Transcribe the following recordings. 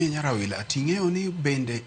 Mie Nyarawila, ting'eyo ni bende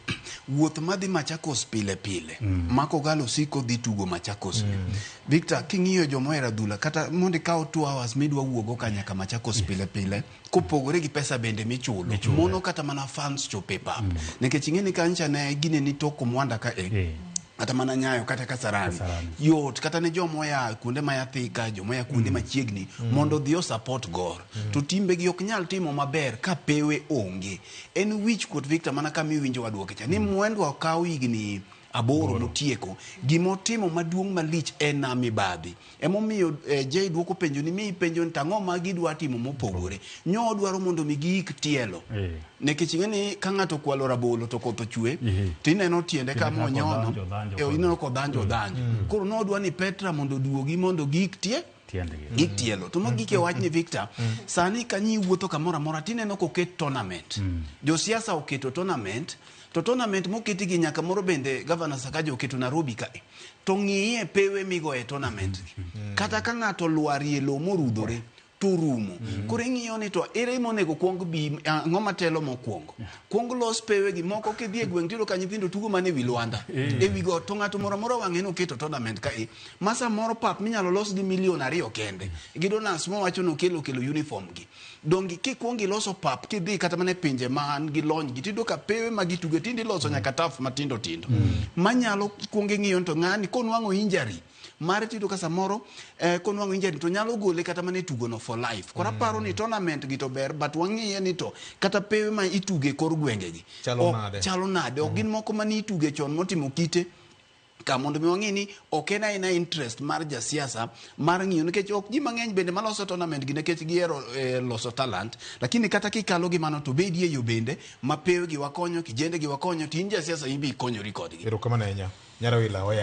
wuoth madhi Machakos pile pile mm. ma Kogalo siko dhi tugo Machakos mm. Victor, king'iyo joma ohero adhula kata mondo ikaw two hours midwa wuogo ka nyaka Machakos yes. pile pile kopogore gi pesa bende michulo mono kata mana fans chope pap mm. nikech ing'e ni kancha ne gine ni toko mwanda ka e yeah. kata mana nyayo kata kasarani, kasarani. yot kata ne joma oya kuonde ma yathika joma oya kuonde mm. machiegni mm. mondo odhi osapot gor mm. to timbegi ok nyal timo maber ka pewe onge en wich kuot victor mana kama iwinjo wadwoke cha ni mm. mwendwa okaw higni aboro motieko gimotimo maduong' malich en na mibadhi Emomiyo eh, Jay dwoko penjo ni mi ipenjo ni to ang'o ma gidwa timo mopogore. Nyo odwaro mondo mi giik tielo. Eh. Nikech ing'e ni ka ng'ato okwalo rabolo to koth ochwe Ehe. to ineno tiende ka Tiende kaka monyono. odhanjo, odhanjo Eh, koni. ineno ka odhanjo odhanjo. Koro nodwa ni Petra mondo oduogi mondo giik tie Tiendgi. gik tielo to mogik e wachni victor sani kanyi wuotho kamoro amora tineno koket tournament josiasa oketo tournament to tournament moketi gi nyaka moro bende gavana sakaja oketo nairobi kae to ng'iye pewe migo e tournament mm. kata ka ng'ato lwarie lo morudhore to rumo mm. koro ing'iyo ni to ere monego kwong bi ang'o matelo mokwongo kwong los pewe gi moko kidhi e gweng' tiyudo ka nyithindo tugo mana e wi lwanda mm. e wi got to ng'ato moro amora wang'e noketo tournament ka e ma samoro pap minyalo los gi milion ariyo kende gi donans mowacho nokelo kelo uniform gi Donge kikwongo iloso pap kidhi kata mana e pinje man gi lony gi tiyudo ka pewe ma gituge tinde iloso nyaka taf matindo tindo manyalo kwongo ing'iyo ni to ng'ani konwang'o injury mare tiyudo ka samoro eh, konwang'o injury to nyalo gole kata mana e tugono for life koro aparo ni tournament gi to ber but wang'iye ni to kata pewe ma ituge e kor gwengegi Chalo ok- nade? chalo nade ok gin moko mane ituge chon motimo kite ka mondo mi wang'e ni ok en aena interest mar jasiasa mar ng'iyo nikech ok ji mang'eny bende maloso tournament gi nikech gihero eh, loso talent lakini kata kikalo gi mano to bedi e yo bende ma pewe gi wakonyo kijende gi wakonyo to in jasiasa in be ikonyori kodgi Erokamano ahinya. Nyara wila oya.